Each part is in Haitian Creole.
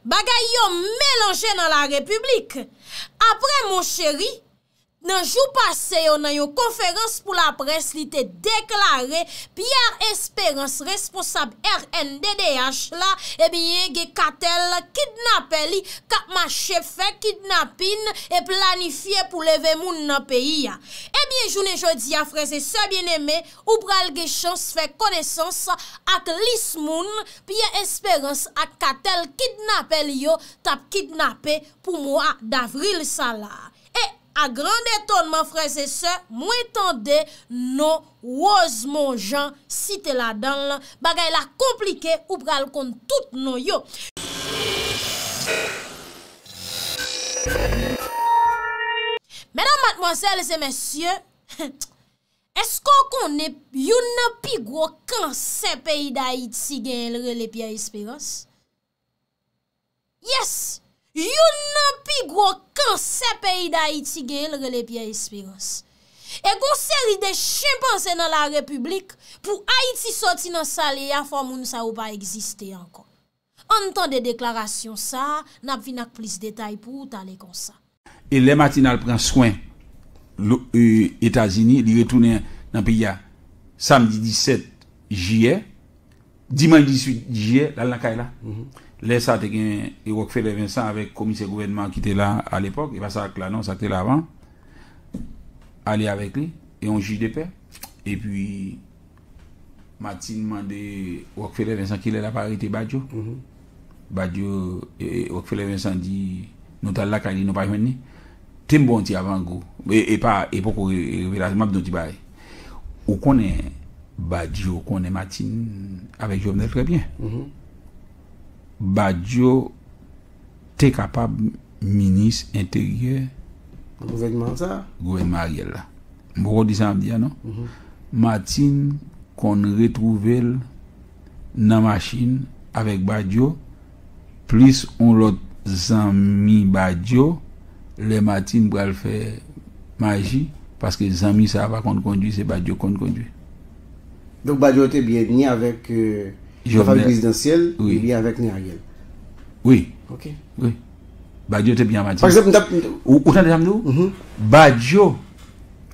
Bagay yo melanje nan la repiblik. Apre Moncheri, nan jou pase yo nan yon konferans pou la près li te deklare Pierre Esperance responsab rnddh la ebyen gen katèl kidnapè li k ap mache fè kidnapin e planifye pou leve moun nan peyi a. Ebyen jounen jodi a frè e sè byeneme. Ou pral gen chans fè konesans ak lis moun Pyè Esperans ak katèl kidnapè li yo t ap kidnape pou mwa davril sa la. E, a gran etonman frèzesè, mwen tande non Rozmon Jan site ladan l, bagay la konplike ou pral konn tout non yo. Medam, matmwazèl e mesye, Eske w konnen youn nan pi gwo kansè peyi Dayiti genyen l rele Pyè Esperans? Yes! Youn nan pi gwo kansè peyi Dayiti genyen l rele Pyè Esperans. E gon seri de chenpanze nan larepiblik, pou Ayiti soti nan sa l ye a fò moun sa yo pa egziste ankò. Ann tande deklarasyon sa a, n ap vin ak plis detay pou ou tale konsa. E lè Martine al pran swen l o Etazini, li retounen nan peyi a samdi 17 jiyè, dimanch 18 jiyè l al nan kay la. Lè sa a te gen Rockfeller Vincent avèk komisè gouvènman an ki te la a lepòk, e pa sa k la non, sa k te la avan, ale avèk li e yon jij de pè. Epi Martine mande Rockefeller Vincent kilè lap arete Badio. Badio, Rockefeller Vincent di nou tal lakay li nou pa jwenn li. Tem ba w yon ti avangou. E pa, e poko revelasyon, map di w yon ti bagay. Ou konnen Badio konnen Martine avèk Jovenel trè byen. Badio Te kapab minis enteryè. Nan gouvènman an sa a. Gouvènman Ariel la. M poko di sa map di a non. Martin konn retwouve l nan machin avèk Badio plis on lòt zanmi Badio lè Martin pral fè maji paske zanmi sa a pa konn kondwi se Badio k konn kondwi. Donk Badio te byen ni avèk kanpay prezidansyèl li byen avèk ni Ariel. Wi. Ok. Wi. Badio te byen an Martine. Par exemple m tap. Ou tande sa m di w? Mh. Badio.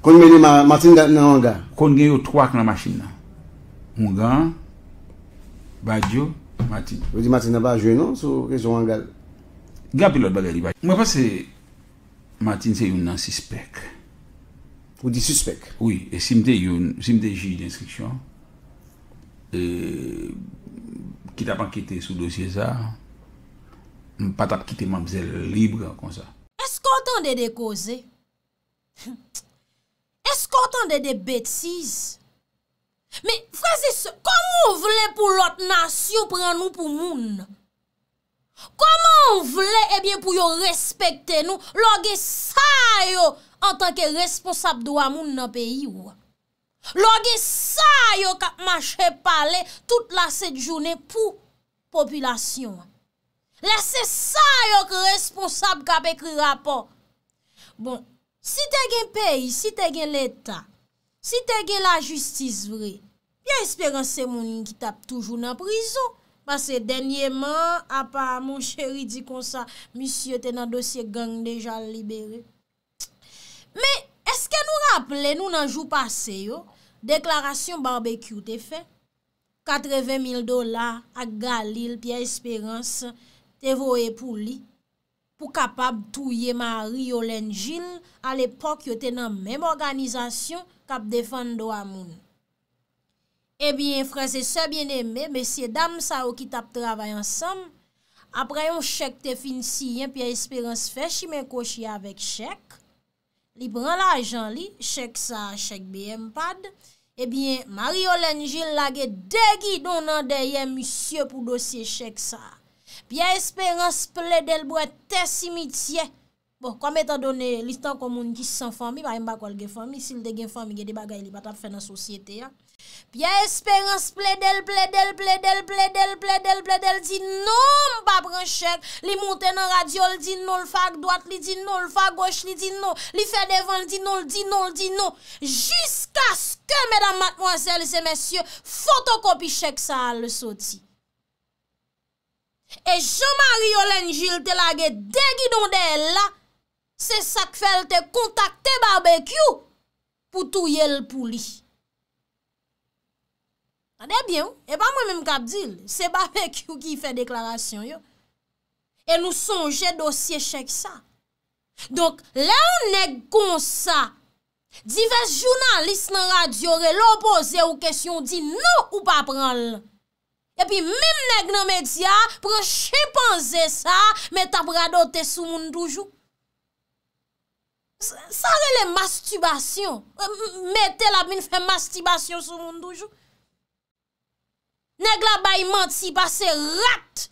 Konn mennen Martine nan anga. Konn gen yo 3 k nan machin nan. Oungan an, Badio, Martine. Ou di Martine nan pa jwe non sou kesyon anga l. Gen anpil lòt bagay li pa. Mwen panse. Martine se youn nan sispèk. Ou di sispèk? Wi, e si m te youn, si m te jij denstriksyon, e ki tap ankete sou dosye sa, m pa tap kite manmzèl libre konsa. Eske w tande de koze? Hum! Eske w tande de betiz? Men, frèzisè, kòman w vle pou lòt nasyon pran nou pou moun? Komanw vle ebyen pou yo respekte nou lè w gen sa yo antanke responsab dwa moun nan peyi w. Lè w gen sa yo kap mache pale tout la sent jounen pou popilasyon an. Lè se sa yo k responsab kap ekri rapò. Bon, si te gen peyi, si te gen leta, si te gen lajistis vre, Pierre Espérance se moun ki tap toujou nan prizon, pase dènyeman an, apa mon cheri di konsa, misye te nan dosye gang deja l libere. Men, eske nou raple nou nan jou pase yo, deklarasyon Barbecue te fè, 80 mil dola ak Galil Pierre Espérance te voye pou li, pou kapab touye Marie Yolène Gilles a lepòk yo te nan menm òganizasyon k ap defann dwa moun. Ebyen, frèzesè byeneme, mesyedam sa yo ki t ap travay ansanm, apre yon chèk te fin siyen Pyè Esperans fè chimen kwochi avèk chèk, li pran lajan li, chèk sa a chèk BM pad, ebyen Marie Yolène Gilles lage 2 gidon nan dèyè misye pou dosye chèk sa a. Pierre Espérance plede l bwè te simityè, bon kòm etan done li tankou moun ki san fanmi, paske m pa kwè l gen fanmi, si l te gen fanmi gen de bagay li pa t ap fè nan sosyete a. Pyè Esperans plede l, plede l, plede l, plede l, plede l, plede l, di non m pa pran chèk, li monte nan radyo l di non l fè ak dwat, li di non l fè ak goch, li di non, li fè devan l di non, l di non, l di non, jiskaske medam matmwazèl se mesye fotokopi chèk sa a l soti. E jan Marie Yolène Gilles te lage 2 gidon dèyè l la, se sa k fè l te kontakte Barbecue Pou touye l pou li. Tande byen wi, e pa mwen menm k ap di l, se Babekyou ki fè deklarasyon yo. E nou sonje dosye chèk sa. Donk, lè yon nèg kon sa, divès jounalis nan radyo rele w poze w kesyon w di non ou pa pran l. E pi menm nèg nan medya a pran chenpanze sa met ap radote sou moun toujou. Sa rele mastibasyon. Mete la vin fè mastibasyon sou moun toujou. Nèg la bay manti pase rat.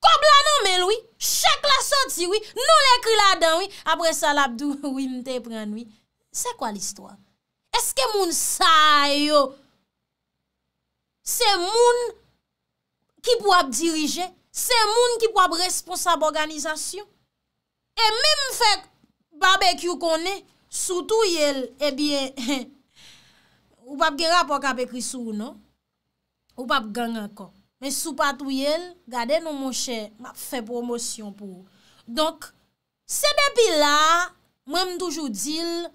Kòb la nan menl wi. Chèk la soti wi. Non l ekri ladan wi. Apre sa lap di w wi m te prann wi. Se kwa listwa? Eske moun sa yo se moun ki pou ap dirije? Se moun ki pou ap responsab òganizasyon? E menm fè Babekyou konnen si w touye l ebyen ou pap gen rapò k ap ekri sou ou non. Ou pap gang ankò. Men si w pa touye l, gade non monchè m ap fè pwomosyon pou ou. Donk se depi la a mwen m toujou di l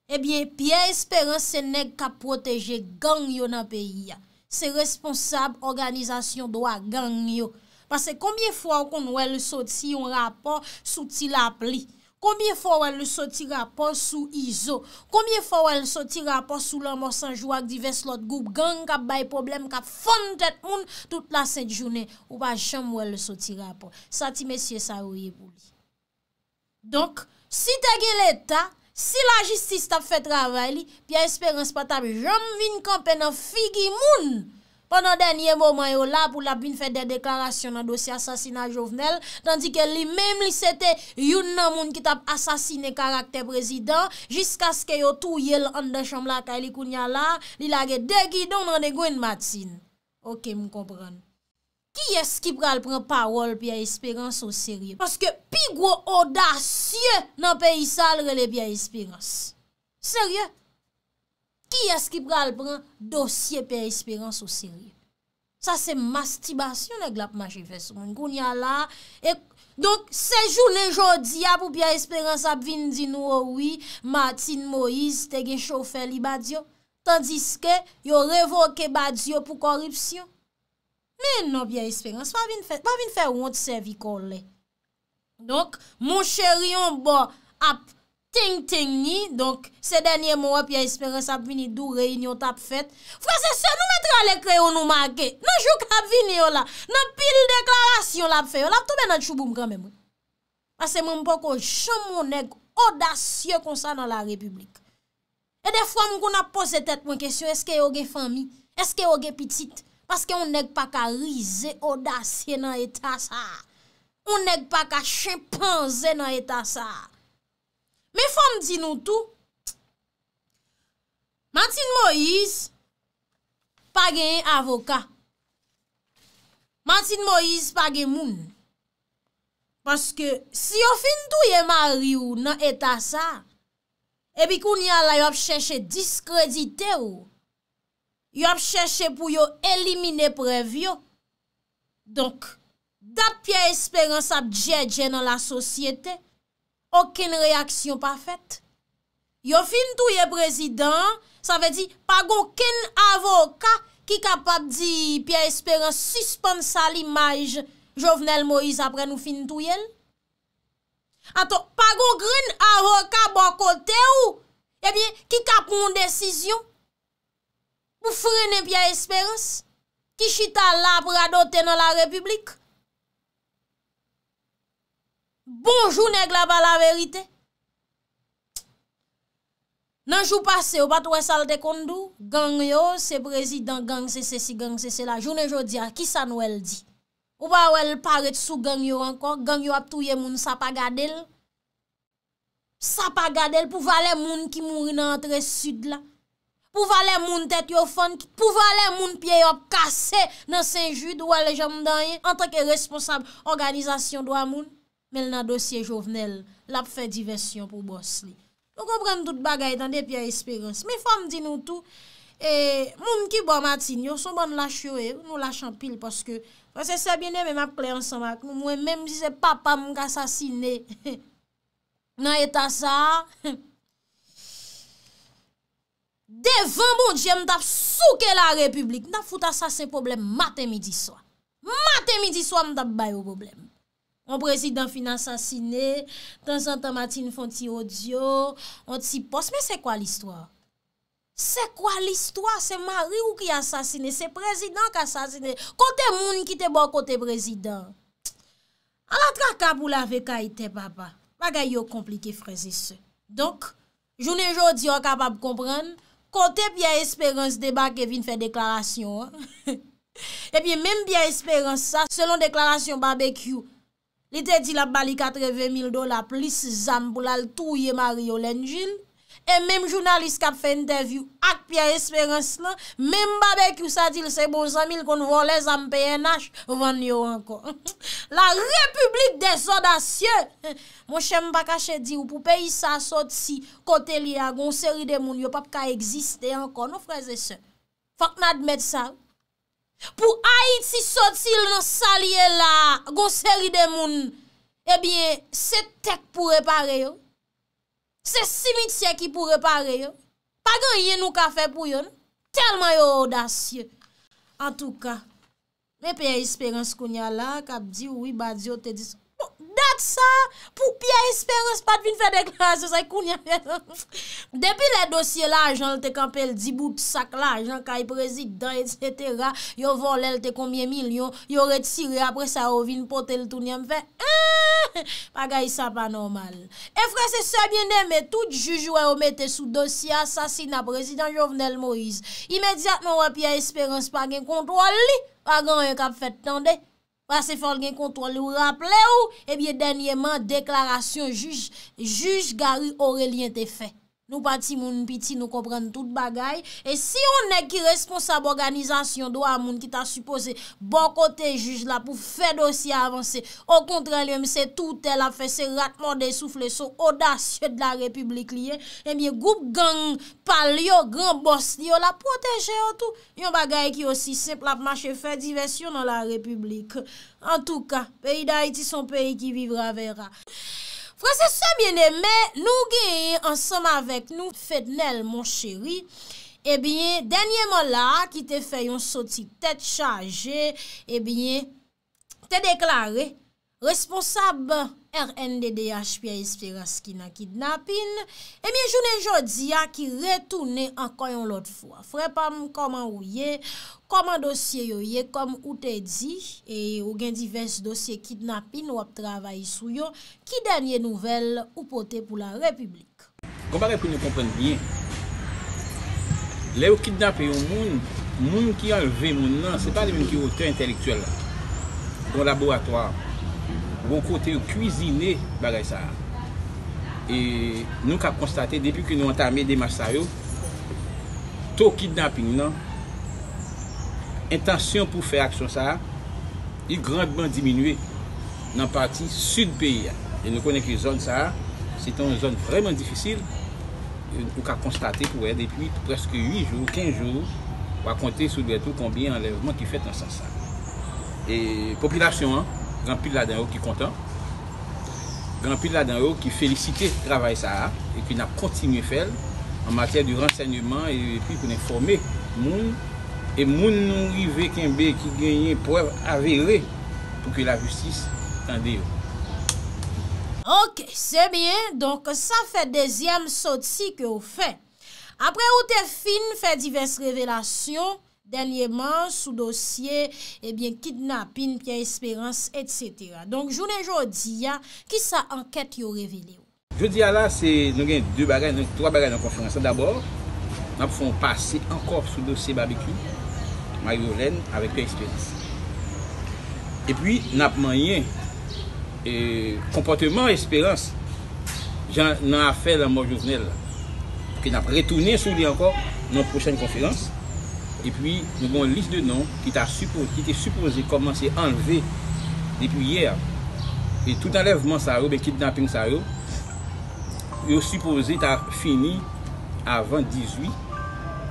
Ebyen Pierre Esperance se nèg kap pwoteje gang yo nan peyi a. Se responsab òganizasyon dwa gang yo. Pase konbyen fwa ou konn wè l soti yon rapò sou Ti Lapli? Konbyen fwa ou wè l soti rapò sou Izo? Konbyen fwa ou wè l soti rapò sou Lanmò 100 jou ak divès lòt gwoup gang kap bay pwoblèm, kap fann tèt moun tout lasent jounen? Ou pa janm wè l soti rapò. Sa ti mesye sa yo ye pou li? Donk, si te gen Leta, si lajistis t ap fè travay li, Pyè Esperans pa t ap janm vin kanpe nan figi moun pandan dènye moman yo la pou l ap vin fè dè deklarasyon nan dosye asasina Jovenel, tandike li menm li se te youn nan moun ki t ap asasine karaktè prezidan jiskaske yo touye l anndan chanm lakay li kounye a la a, li lage de gidon nan de grenn matin. Ok, m konprann. Kiyès ki pral pran pawòl Pierre Esperance o serye paske pi gwo odasye nan peyi sa a l rele Pierre Esperance. Serye? Kiyès ki pral pran dosye Pierre Esperance o serye? Sa se mastibasyon nèg la ap mache fè sou moun kounye a la a. Donk se jounen jodi a pou Pierre Esperance ap vin di nou o wi Martine Moïse te gen chofè li Badio tandiske yo revoke Badio pou kòripsyon. Men non Pierre Esperance pa vin fè, pa vin fè wont sèvi kò w lè. Donk, mon cheri yon bò ap teng teng ni, donk, se dènye mo a Pierre Esperance ap vini di w reyinyon t ap fèt. Frèz e sè nou mèt rale kreyon nou make, nan jou k ap vini yo la, nan pil deklarasyon l ap fè yo, l ap tonbe nan tchouboum kan menm wi. Pase mwen m poko janm won nèg odasye konsa nan la repiblik. E defwa m konn ap poze tèt mwen kesyon eske yo gen fanmi, eske yo gen pitit? Paske yon nèg pa ka rize, odasye nan eta sa a. Yon nèg pa ka chenpanze nan eta sa a. Men fò m di nou tou, Martine Moïse pa genyen avoka. Martine Moïse pa gen moun. Paske si yo fin touye mari ou nan eta sa a, Epi kounye a la yo ap chèche diskredite ou, yo ap chèche pou yo elimine prèv yo. Donk, dat Pierre Espérance ap djèdjè nan lasosyete, okenn reyaksyon pa fèt. Yo fin touye prezidan an, sa vle di pa gen okenn avoka ki kapab di Pierre Espérance sispann sal imaj Jovenel Moïse apre nou fin touye l? Atò, pa gon grenn avoka bò kote ou, ebyen, ki ka pran yon desizyon pou frennen Pierre Esperance, ki chita la ap radote nan la repiblik? Bonjou nèg la pa laverite. Nan jou pase yo pat wè sal te konn di w, gang yo se prezidan, gang se sesi, gang se sela, jounen jodi a ki sa nwèl di? Ou pa wèl pa ret sou gang yo ankò gang yo ap touye moun sa pa gadel sa pa gadel pou valè moun ki mouri nan antre sud la pou valè moun tèt yo fann pou valè moun pye yo ap kase nan senjud ou wèl janm dan ye antanke responsab òganizasyon dwa moun. men l nan dosye Jovenel, l ap fè divèsyon pou bòs li. Nou konprann tout bagay tande Pierre Espérance. Men fò m di nou tou, e, moun ki bò Martine yo, s on bann lach yo ye, nou lach anpil paske, frè se sè byeneme m ap klè ansanm ak nou, mwen menm si se papa m k asasine nan eta sa a, hum, devan Bondye m t ap souke la Repiblik, m t ap fout asasen pwoblèm maten midi swa. Maten midi swa m t ap ba yo pwoblèm. On prezidan fin asasine, tanzantan Martine fon ti odyo, on ti pòs, men se kwa listwa? Se kwa listwa? Se mari ou ki asasine, se prezidan k asasine, kote moun ki te bò kote prezidan? Ala traka pou lave kay tè papa, bagay yo konplike frèzesè. Donk, Jounen jodi a w kapab konprann, kote Pyè Esperans debake vin fè deklarasyon an, ebyen menm Pyè Esperans sa, selon deklarasyon Babekyou, li te di l ap ba li 80 mil dola plis zam pou l al touye Marie Yolène Gilles, e menm jounalis k ap fè entèvyou ak Pyè Esperans lan, menm Babekyou sa di l se bon zanmi l konn vòlè zam pnh vann yo ankò. La repiblik dezodasye! Monchè m pa kache di ou pou peyi sa sot si kote l ye a gen yon seri de moun yo pap ka egziste ankò non frè e sè. Fòk n admèt sa wi. Pou Ayiti soti l nan sa l ye la a gen yon seri de moun ebyen se tè k pou repare yo. Se simityè ki pou repare yo. Pa gen anyen nou ka fè pou yo non. Tèlman yo odasye. Antouka. Men Pierre Esperance kounya la kap di wi Badio te di sa. Bon, dat sa pou Pierre Esperance pat vin fè deklarasyon sa kounya. Depi lè dosye lajan l te kanpe l di bout sak lajan kay prezidan etc. Yo vòlè l te konbyen milyon, yo retire apre sa yo vin pote l tounen m fè eehh! Bagay sa pa nòmal. E frè se sè byen eme tout jij ou wè yo mete sou dosye asasina prezidan Jovenel Moise imedyatman wè Pierre Esperance pa gen kontwòl li pa gen anyen kap fèt tande pase fòl gen kontwòl li ou raple ou ebyen dènyeman deklarasyon jij jij Garry Orelien te fè Nou pa timoun piti nou konprann tout bagay, e si yon nèg ki responsab òganizasyon dwa moun ki ta sipoze bò kote jij la pou fè dosye a avanse, okontrè li menm se toutè lap fè se rat mòde soufle so odasye de la repiblik li ye, ebyen gwoup gang pal yo gran bòs li yo lap pwoteje yo tou. Yon bagay ki osi senp lap mache fè divèsyon nan la repiblik. Antouka, peyi Dayiti son peyi ki vivre à verra. Frè se sè byen eme nou genyen ansanm avèk nou Fednel mon cheri ebyen dènyeman la ki te fè yon soti tèt chaje ebyen te deklare responsab rnddh Pierre Esperance ki nan kidnapin, ebyen jounen jodi a ki retounen ankò yon lòt fwa. Frè pa m kòman ou ye, kòman dosye yo ye, kòm ou te di, e ou gen divès dosye kidnapin w ap travay sou yo, ki dènye nouvèl ou pote pou la repiblik? Gon bagay pou nou konprann byen, lè yo kidnape yon moun, moun ki anlve moun nan, se pa li menm ki otè entèlektyèl la. Gon laboratwa, gon kote yo kwizine bagay sa a. E nou ka konstate depi ke nou antame demach sa yo, to kidnaping nan, entansyon pou fè aksyon sa a, li grandman diminye. nan pati sid peyi a e nou konnen ke zòn sa a se te yon zòn vrèman difisil ou ka konstate pou wè depi prèske 8 jou, 15 jou wa konte sou dwèt ou konbyen anlèvman ki fèt nan sans sa e popilasyon an gen anpil ladan yo ki kontan gen anpil ladan yo ki felisite travay sa a e ke nap kontinye fè l an matyè de ransèyneman e pi pou n enfòme moun e moun nou rive kenbe ki genyen prèv avere. Pou ke la jistis tande yo. Ok se byen donk sa fè dezyèm soti ke ou fè. Apre ou te fin fè divès revelasyon dènyeman sou dosye ebyen kidnapin Pierre Esperance etc. Donk jounen jodi a kisa ankèt yo revele ou? Jodi a la, se nou gen 2 bagay, nou gen 3 bagay nan konferans lan. Dabò, n ap fè yon pase ankò sou dosye Babekyou, Maryolèn avèk Pyè Esperans. Epi, n ap manyen konpòteman Esperans jan nan afè lanmò Jovenel la. Ke n ap retounen sou li ankò nan yon pwochèn konferans. Epi, nou gen yon lis de non. ki te sipoze kòmanse anlve depi yè a e tout anlèvman sa yo oubyen kidnaping sa yo yo sipoze ta fini avan 18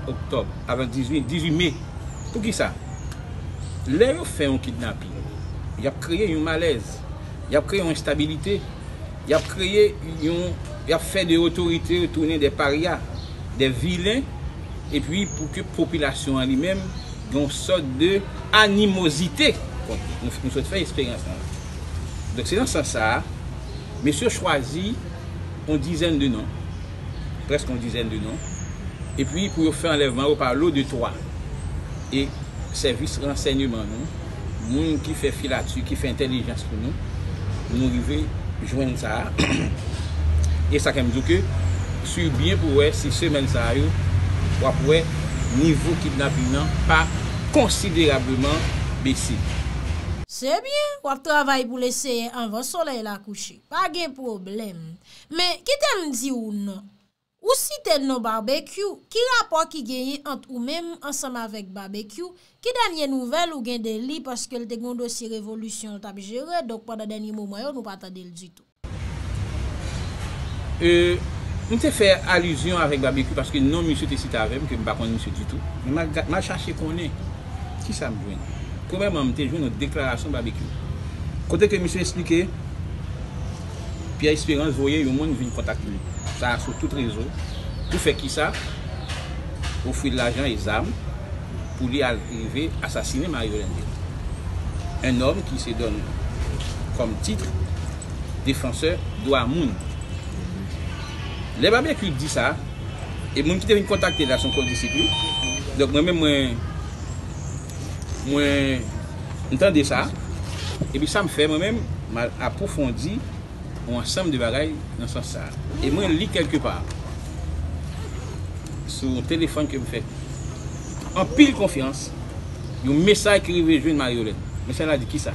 oktòb avan 18 me poukisa? lè yo fè yon kidnaping y ap kreye yon malèz y ap kreye yon enstabilite y ap kreye yon y ap fè de otorite yo tounen de parya de vilen epi pou ke popilasyon an li menm gen yon sòt de animozite kont li, nou sot fè esperyans lan. Donk se nan sans sa a, mesye yo chwazi yon dizèn de non, prèske yon dizèn de non, epi pou yo fè anlèvman yo pa lo de twa, e sèvis ransèyneman nou, Moun ki fè filati, ki fè entelijans pou nou, nou rive jwenn sa a. E sa fè m di w ke si w byen pou wè si semèn sa a yo, w ap wè nivo kidnaping nan pa konsiderableman bese. Se byen, w ap travay pou l eseye anvan solèy la kouche. Pa gen pwoblèm. Men, kite m di w non, Ou site non Barbecue, ki rapò ki genyen ant ou menm ansanm avèk Barbecue, ki dènye nouvèl ou gen de li paske l te gen yon dosye revolisyon l t ap jere donk pandan dènye moman yo nou pa tande l ditou. E, m te fè alizyon avèk Barbecue paske non misye te site avè m ke m pa konn misye ditou, men m al chache konnen, kisa m jwenn? Premyèman m te jwenn yon deklarasyon Barbecue kote ke misye esplike, Pierre Esperance voye yon moun vin kontak li sa a sou tout rezo pou fè kisa? Ofri l lajan e zam pou li al rive asasine Mario Lendil, un homme qui se donne comme titre défenseur dwa moun. Lè Babecue di sa, e moun ki te vin kontakte l la son kondisip li, donk mwen menm mwen. Mwen tande sa, epi sa m fè mwen menm, m al apwofondi yon ansanm de bagay nan sans sa. E mwen li kèlke pa, sou yon telefòn ke m fè anpil konfyans, yon mesaj ki rive jwenn Maryolèn. Mesaj la di kisa?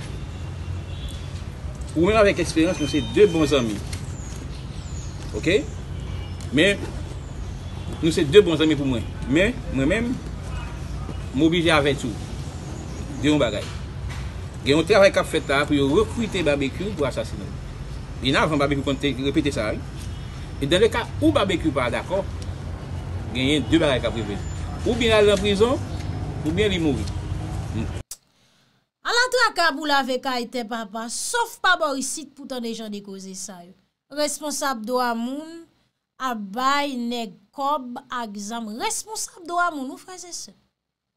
Ou menm avèk eksperyans nou se de bon zanmi. Ok? Men. Nou se 2 bon zanmi pou mwen. Men, mwen menm, m oblije avèti w de yon bagay. Gen yon travay k ap fèt la a pou yo rekrite Babekyou pou asasine l. Byen avan, Babekyou konn te repete sa a wi. E dan le ka ou Babekyou pa dakò, genyen 2 bagay k ap rive. Oubyen l al nan prizon, oubyen li mouri. M. Ala traka pou lave kay tè papa, sof pa bò isit pou tande jan de koze sa yo. Responsab dwa moun ap bay nèg kòb ak zam responsab dwa moun wi frèz e sè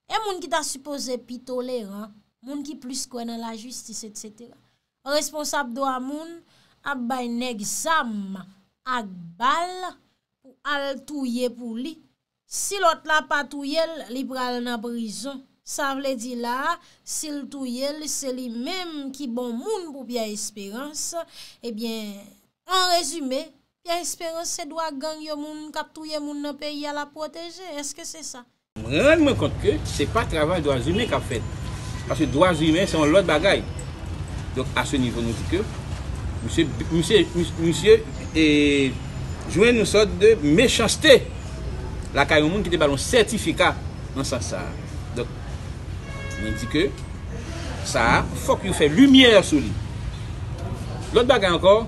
e moun ki ta sipoze pi toleran moun ki plis kwè nan la jistis etc responsab dwa moun ap bay nèg zam ak bal pou al touye pou li Si lòt la pa touye l, li pral nan prizon. Sa vle di la a, si l touye l, se li menm ki bon moun pou Pyè Esperans. Ebyen, an rezime, Pyè Esperans se dwa gang yo moun k ap touye moun nan peyi a l ap pwoteje. Èske se sa? M rann mwen kont ke se pa travay dwazimen k ap fèt. Paske dwazimen se yon lòt bagay. Donk, a se nivo nou di ke misye, misye, misye jwenn yon sòt de mechanste. lakay yon moun ki te ba l yon sètifika nan sans sa a. Donk, mwen di ke sa a fòk yo fè limyè sou li. Lòt bagay ankò,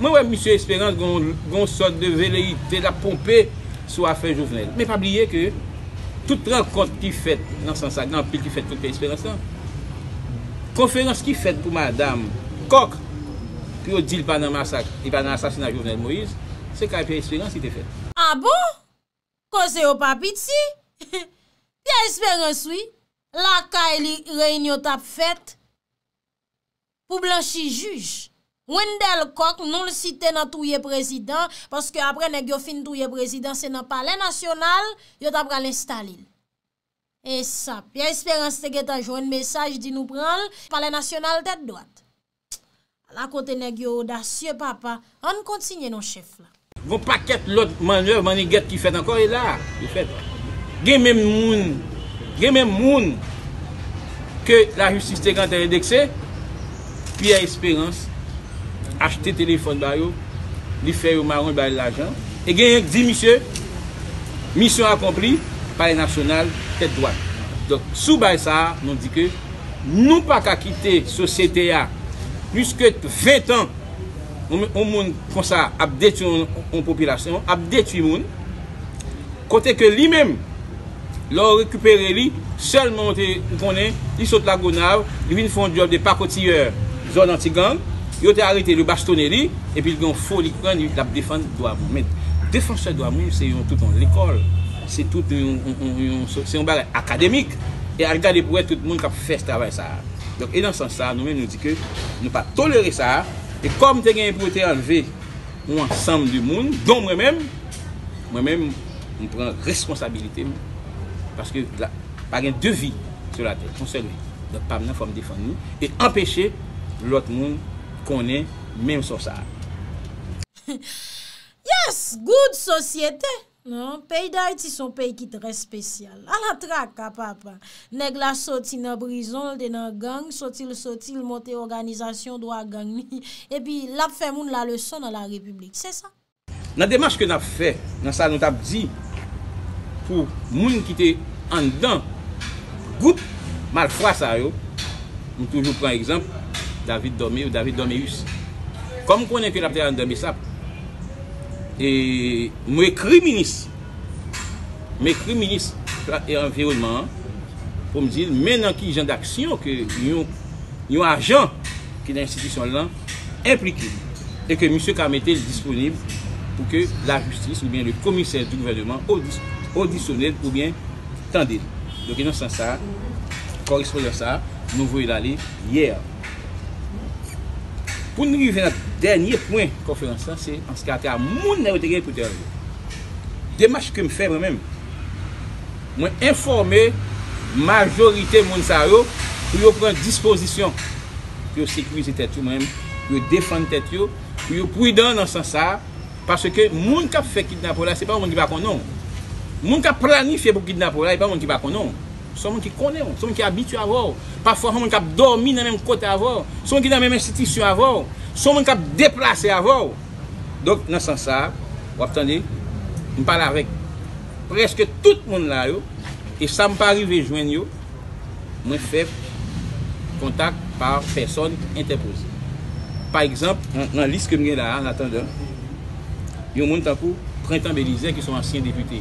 mwen wè misye Esperans gen yon sòt de veleyite l ap ponpe sou afè Jovenel. Men pa bliye ke tout rankont ki fèt nan sans sa a, gen anpil ki fèt kote Esperans lan. Konferans ki fèt pou madam Kòk pou yo di l pa nan masak, li pa nan asasina Jovenel Moïse. Se kay Pierre Esperance li te fèt. Ah bon! Koze yo pa piti! Pierre Esperance wi! Lakay li reyinyon t ap fèt pou blanchi jij. Wendel Coq non l site nan touye prezidan, paske aprè nèg yo fin touye prezidan se nan palè nasyonal yo ta pral enstale l. E sa Pierre Esperance te gentan jwenn mesaj di nou pranl palè nasyonal tèt dwat. Ala kote nèg yo odasye papa, ann kontinye non chèf la. Gon pakèt lòt mannèv mannigèt ki fèt ankò e la a. Gen menm moun, gen menm moun ke lajistis te gentan endekse. Pierre Esperance achte telefòn ba yo, li fè yo maron, li ba yo lajan. E genyen k di misye, misyon akonpli, palè nasyonal, tèt dwat. Donk, sou baz sa a, nou di ke nou pa ka kite sosyete a plis ke 20 tan yon moun konsa ap detwi yon popilasyon, ap detwi moun, kote ke li menm, Lè w rekipere li, sèlman ou te ou konnen li sot Lagonav, li vin fè yon djòb de pakotiyè zòn antigang, yo te arete l, yo bastone li, epi l gen yon foli kran li l ap defann dwa moun. Men, defansè dwa moun se yon tout yon lekòl, se tout yon, se yon bagay akademik. E al gade pou wè tout moun k ap fè travay sa a. Donk, e nan sans sa a, nou menm nou di ke nou pa tolere sa a. E kòm te genyen pou yo te anleve. yon ansanm de moun, don mwen menm, mwen menm m pran responsabilite m, paske pa gen de vi sou latè, yon sèl vi, donk pa m nan fò m defann li, e anpeche lòt moun konnen menm sò sa a. Yes! Good sosyete! Non, peyi Dayiti son peyi ki trè spesyal. A la traka, papa! Nèg la soti nan prizon, l te nan gang, soti l soti, l monte òganizasyon dwa gang li, epi l ap fè moun la leson nan la Repiblik. Se sa. Nan demach ke n ap fè, nan sa nou t ap di pou moun ki te anndan gwoup malfra sa yo, m toujou pran egzanp David Dormé ou David Dorméus. Kòm m konnen ke l ap travay anndan Bsap, e. M ekri minis M ekri minis Pla e Anviwònman an pou m di l men nan ki jan daksyon ke yon yon ajan ki nan enstitisyon l lan enplike e ke misye ka mete l disponib pou ke lajistis oubyen le komisè di gouvèneman odisyone l oubyen tande l. Donk e nan sans sa a, kòrespondans sa a, nou voye l ale yè. Pou n rive nan dènye pwen konferans lan se anskate a moun nan yo te gen pou te al yo. Demach ke m fè mwen menm, mwen enfòme majorite moun sa yo pou yo pran dispozisyon pou yo sekirize tèt yo mwen menm, pou yo defann tèt yo, pou yo pridan nan sans sa a, paske moun k ap fè kidnapè w la se pa yon moun ki pa konnen w. Moun k ap planifye pou kidnape w la e pa yon moun ki pa konnen w. Se yon moun ki konnen w. Se yon moun ki abitye avè w. Pafwa se yon moun k ap dòmi nan menm kote avè w. Se yon moun ki nan menm enstitisyon avè w. Se yon moun k ap deplase avè w. Donk, nan sans sa a, w ap tande, m pale avèk prèske tout moun la yo, e sa m pa rive jwenn yo, mwen fè kontak pa pèsòn entèpoze. Pa egzanp, nan lis ke m gen la a, an atandan, yon moun tankou Prentan Belizè ki se yon ansyen depite.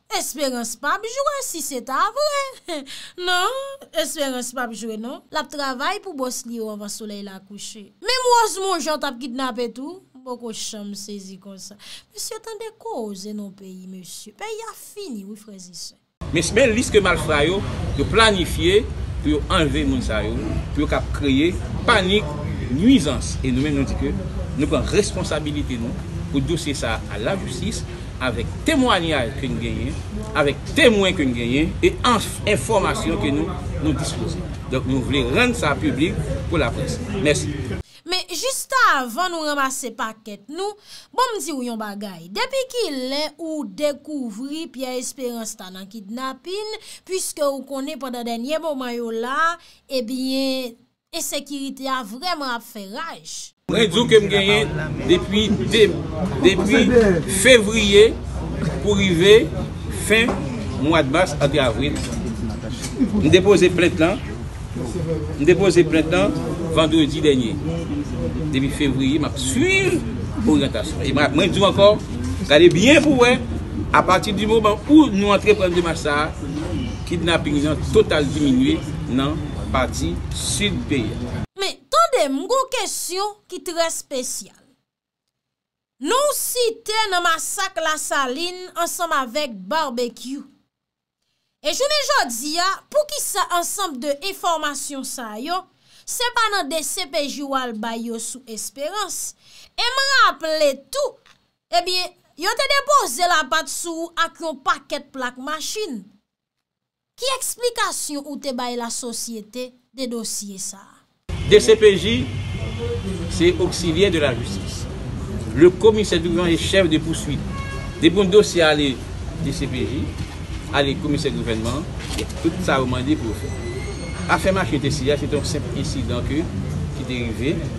Esperans pap jwe si se ta vre nan esperans pap jwe non lap travay pou bos li yo anvan soley la kouche menm rozmon jean tap kidnape tou m poko janm sezi konsa mesye tande koze non peyi mesye peyi a fini wi frezesè. Mes men lis ke malfra yo yo planifye pou yo anlve moun sa yo pou yo ka kreye panik nwizans e nou menm nou di ke nou pran responsabilite nou pou dosye sa al la jistis avèk temwanyaj ke n genyen, avèk temwen ke n genyen e anf enfòmasyon ke nou nou dispoze. Donk nou vle rann sa piblik pou laprès. Mèsi. Men jista avan nou ranmase pakèt nou, bon m di w yon bagay, depi ki lè ou dekouvri Pierre Espérance ta nan kidnapin, puiske ou konnen pandan dènye moman yo la, ebyen, Ensekirite a vrèman ap fè raj. Mwen di w ke m genyen depi depi fevriye pou rive fen mwad mas antre avril. M depoze plent lan m depoze plent lan vandredi dènye. Depi fevriye m ap swiv oryantasyon e mwen di w ankò gade byen pou w wè apati di moman ou nou antre pran demach sa a Kidnapping nan total diminye nan pati Sud peyi a. Men, tande, m gon kesyon ki trè spesyal. Non site nan masak Lasalin ansanm avèk Barbecue. E jounen jodi a, poukisa ansanm de enfòmasyon sa yo, se pa nan dcpj ou al bay yo sou Esperance? E m raple tou, Ebyen, yo te depoze lapat sou ou ak yon pakèt plak machin. Ki eksplikasyon ou te bay lasosyete de dosye sa a? Dcpj, Se oksilyè de lajistis. Le komisè Duverne e chèf de pouswit. Depi yon dosye ale dcpj, ale komisè gouvènman, tout sa yo mande pou yo fè. Afè machin te siy la se te yon senp ensidan ke ki te rive.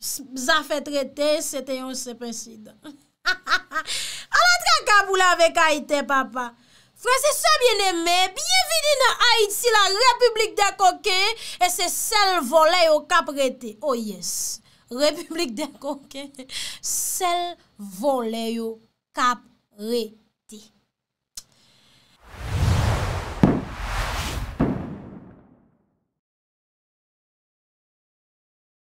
zafè trete se te yon senp ensidan. Ha ha ha! Ala traka pou lave kay tè papa! Frèz e sè byeneme, byenvini nan Ayiti la repiblik dè koken e se sèl vòlè yo k ap rete. O yes! Repiblik dè koken, sèl vòlè yo k ap rete.